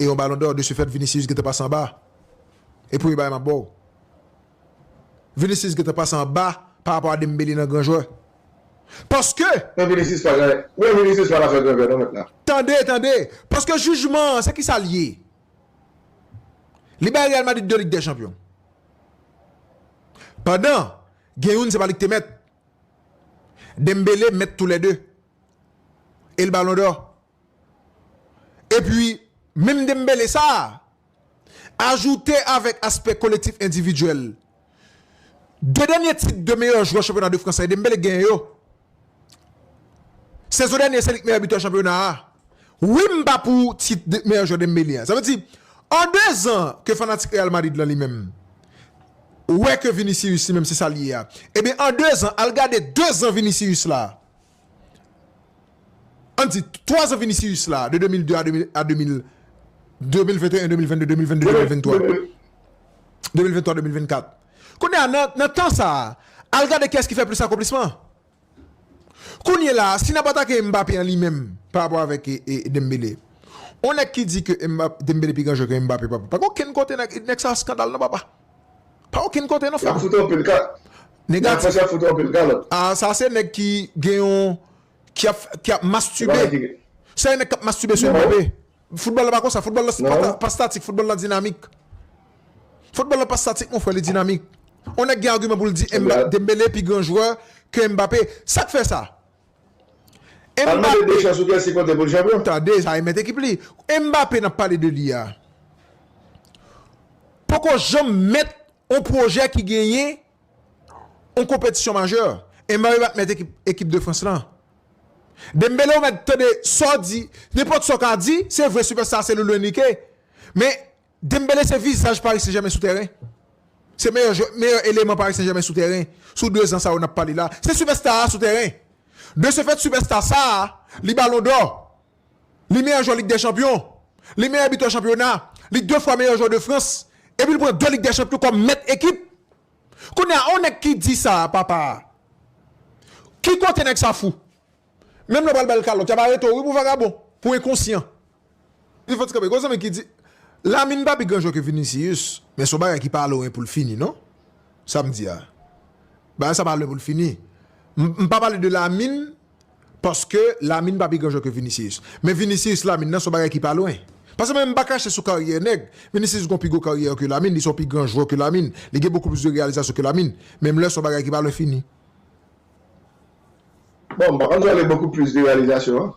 e yon balon dò de se fèt Vinicius gentan pase anba e premye bagay map baw Vinicius gentan pase anba pa rapò a Dembele nan gran jwè paske Nan Vinicius pa janm nan Vinicius pa nan fè gran jwè non mèt la. Tande tande paske jijman an se kisa li ye li bay Real Madrid 2 lig dè chanpyon pandan gen youn se pa li ki te mèt Dembele mèt tou lè 2 el balon dò. Epi, menm Dembélé sa a, ajoute avèk aspè kolektif endividyèl, 2 dènye tit de meyè jwè chanpyona de Frans sa e Dembélé k genyen yo. Sezon dènye se li k meyè bitè chanpyona a. Wi m pa pou tit de meyè jwè Dembélé a. Sa vle di, an 2 zan ke fanatik Real Madrid lan li menm, wè ke Vinicius li menm se sa l ye a. Ebyen an 2 zan, al gade 2 zan Vinicius la. An n di, twazan Vinicius la, de 2002 a 2000, a 2000, 2021, 2022, 2022, 2023, 2023, 2024. Kounye a, nan, nan tan sa a, a l gade kiyès ki fè plis akonplisman. Kounye la a, si n ap atake Mbappé an li menm, pa rapò avèk e, e Dembélé. On nèg ki di ke Mbap, Dembélé pi gran jwè ke Mbappé, pa, pa gen okenn kote nèg, nèg sa a skandal non papa. Pa okenn kote non frè mwen. Negatif. Ah sa se nèg ki gen yon ki ap mastibe. Sa e nèg k ap mastibe sou yon bèbè. Foutbòl la pa konsa. Foutbòl la pa statik. Foutbòl la dinamik. Foutbòl la pa statik mon frè li dinamik. On nèg gen agiman pou l di Dembele pi gran jwè ke Mbappé. Sa k fè sa? Mbappe Tande sa e met ekip li Mbappe nap pale de li a Poko janm met on pwojè ki genyen on konpetisyon majè Mbappe pat met ekip de frans lan Dembele ou mèt tande sa w di nenpòt sa w ka di se vre sipèsta se Luis Enrique men Dembele se vizaj Paris Saint Germain sou tèren. Se meyè jwè, meyè eleman Paris Saint Germain sou tèren sou 2 zan sa yo nap pale la. Se sipèsta a sou tèren. De se fèt sipèsta sa a, li balon dò, li meyè jwè lig dè chanpyon, li meyè bitè chanpyona, li 2 fwa meyè jwè de Frans, epi li pran 2 lig dè chanpyon kòm mèt ekip. Kounye a, on nèg ki di sa a papa a, ki kote nèg sa fou? Menm lè ou pral bal kalòt, yap arete w wi pou vagabon, pou enkonsyan. Li fòt kanpe. Gon zanmi ki di, Lamine pa pi gran jwè ke Vinicius, men son bagay ki pa lwen pou l fini non. Sa m di a. Bagay sa pa lwen pou l fini. M pa pale de Lamine paske Lamine pa pi gran jwè ke Vinicius. Men Vinicius Lamine nan son bagay ki pa lwen. Paske mwen menm m pa kache sou karyè nèg. Vinicius gon pi gwo karyè ke Lamine, li son pi gran jwè ke Lamine. Li gen bokou plis de reyalizasyon ke Lamine. Men m lè son bagay ki pa lwen fini. Bon, m pa konn si w ale bokou plis de reyalizasyon an.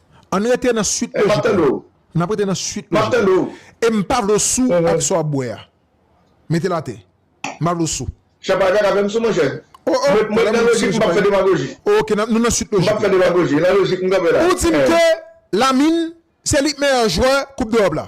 Ann rete nan suit lojik la. N ap rete nan suit lojik la. E m pa vle w sou ak sa w ap bwè a. Mete l atè. M pa vle w sou. Chè pa gen avè m sou monchè. O o! Mwen nan lojik m p ap fè demagoji. Oke, nou nan suit lojik la. M p ap fè demagoji. Nan lojik m kanpe la. Ou di m ke Lamine se li k meyè jwè koup dEròp la.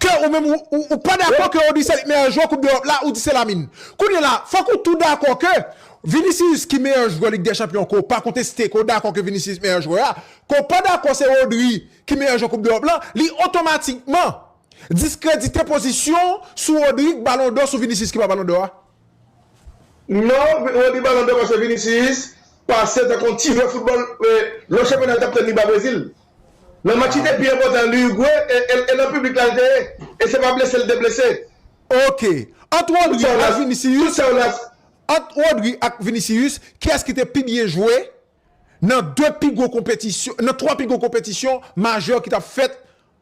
Ke ou menm ou pa dakò ke Odyssey li meyè jwè koup dEròp la ou di se Lamine. Kounye la fòk ou tou dakò ke Vinicius ki meyè jwè Lig dè Chanpyon ke w pa konteste ke w dakò ke Vinicius meyè jwè a, ke w pa dakò se Rodri ki meyè jwè koup dEròp la, li otomatikman diskredite pozisyon w sou Rodri k balon dò sou Vinicius ki pa balon dò a. Non Roby balon dò paske Vinicius pase tankou yon tirè foutbòl lò chanpyona li tap tann li ba Brezil nan match ki te pi enpòtan li Urugwe e nan piblik la li te ye e se pa blese li te blese. Ok ant Rodri ak Vinicius ant Rodri ak Vinicius kiyès ki te pi byen jwe nan 2 pi gwo konpetisyon nan 3 pi gwo konpetisyon majè ki tap fèt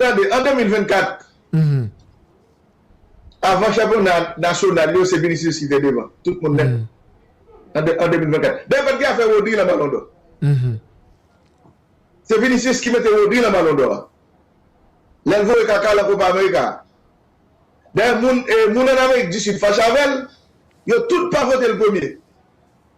Tande, an 2024, avan chanpyona nasyonal yo, se Vinicius ki te devan tout moun nèt an 2024. Dayè pat gen afè Rodri lan Ballon d'Or. Se Vinicius ki mete Rodri lan Ballon d'Or a. Lè l voye kaka lan Copa America a. Dayè moun an Amerik di Sid fache avè l, yo tout pa vote l premye.